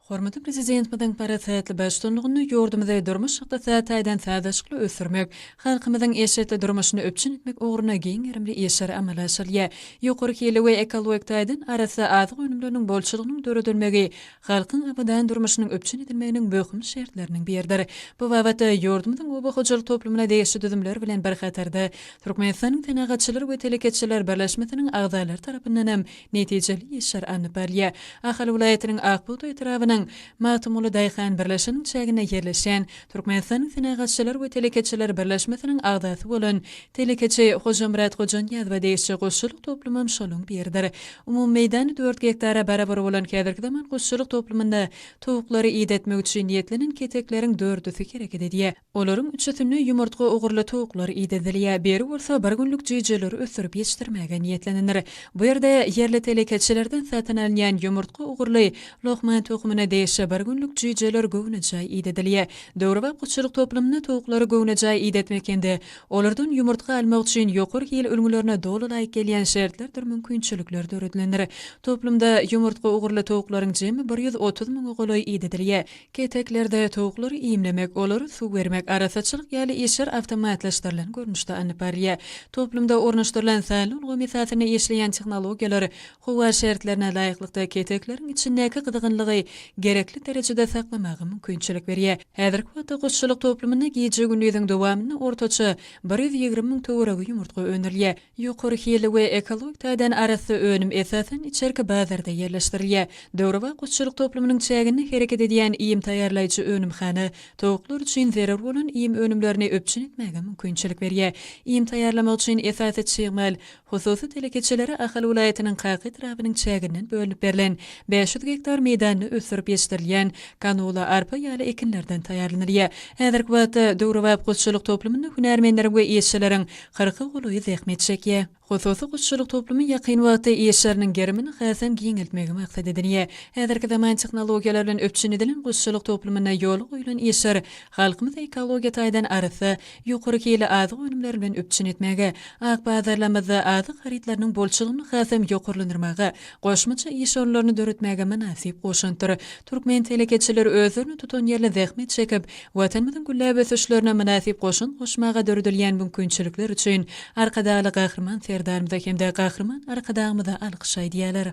Hormatly Prezidentimiziň parasatly baştutanlygynda ýurdumyzy durmuş-ykdysady taýdan sazlaşykly ösdürmek, halkymyzyň eşretli durmuşyny üpjün etmek ugrunda giň gerimli işler amala aşyrylýar. Ýokary hilli we ekologik taýdan arassa azyk önümleriniň bolçulygynyň döredilmegi halkyň abadan durmuşynyň üpjün edilmeginiň möhüm şertleriniň biridir. Bu babatda ýurdumyzyň oba hojalyk toplumyna degişli düzümler bilen bir hatarda Türkmenistanyň Senagatçylar we telekeçiler birleşmesiniň agzalary tarapyndanam netijeli işler alnyp barylýar. Ahal welaýatynyň Akbugdaý etrabynyň Magtymguly daýhan birleşiginiň çäginde ýerleşýän Türkmenistanyň Senagatçylar we telekeçiler birleşmesiniň agzasy bolan telekeçi Hojamyrat Hojanyýazowa degişli guşçulyk toplumam şonuň biridir. Umumy meýdany dört gektara barabar bolan häzirki zaman guşçulyk toplumynda towuklary idetmek üçin niýetlenen ketekleriň dördüsi hereket edýär. Olaryň üçüsine ýumurtga ugurly towuklar idedilýär, biri bolsa bir günlük jüýjeleri ösdürip ýetişdirmäge niýetlenendir. Bu ýerde ýerli telekeçilerden satyn alynýan ýumurtga ugurly lohman tohumyna degişli bir günlük jüýjeler göwnejaý idedilýär. Döwrebap guşçulyk toplumynda towuklary göwnejaý idetmek hem-de olardan ýumurtga almak üçin ýokary hil ülňülerine doly laýyk gelýän şertlerdir mümkinçilikler döredilendir. Toplumda ýumurtga ugurly towuklaryň jemi bir ýüz otuz müňe golaý idedilýär. Keteklerde towuklary iýmlemek, olara suw bermek, arassaçylyk ýaly işler awtomatlaşdyrylan görnüşde alnyp barylýar. Toplumda ornaşdyrylan sanly ulgam esasynda işleýän tehnologiýalar howa şertlerine laýyklykda ketekleriň içindäki gyzgynlygy gerekli derejede saklamaga mümkinçilik berýär. Häzirki wagtda guşçulyk toplumynda gije-gündiziň dowamynda ortaça bir ýüz ýigrimi müň töweregi ýumurtga öndürilýär. Ýokary hilli we ekologik taýdan arassa önüm esasan içerki bazarda ýerleşdirilýär. Döwrebap guşçulyk toplumynyň çäginde hereket edýän iým taýýarlaýjy önümhana towuklar üçin zerur bolan iým önümlerini üpjün etmäge mümkinçilik berýär. Iým taýýarlamak üçin esasy çig mal hususy telekeçilere Ahal welaýatynyň Kaka etrabynyň çäginden bölünip berlen bäş ýüz gektar meýdanda ösdürip ýetişdirilýän kanola, arpa ýaly ekinlerden taýýarlanylýar. Häzirki wagtda döwrebap guşçulyk toplumynda hünärmenleriň we işçileriň kyrka golaýy zähmet çekýär. Hususy guşçulyk toplumy ýakyn wagtda iş ýeriniň gerimini hasam giňeltmegi maksat edinýär. Häzirki zaman tehnologiýalar bilen üpjün edilen guşçulyk toplumynda ýola goýlan işler halkymyzy ekologiýa taýdan arassa, ýokary hilli azyk önümleri bilen üpjün etmäge, ak bazarlarymyzda azyk harytlarynyň bolçulygyny hasam ýokarlandyrmaga, goşmaça iş orunlaryny döretmäge mynasyp goşantdyr. Türkmen telekeçileri özlerini tutanýerli zähmet çekip, Watanymyzyň gülläp ösüşlerine mynasyp goşant goşmaga döredilýän mümkinçilikler üçin Arkadagly Gahryman Serdarymyza hem-de Gahryman Arkadagymyza alkyş aýdýarlar.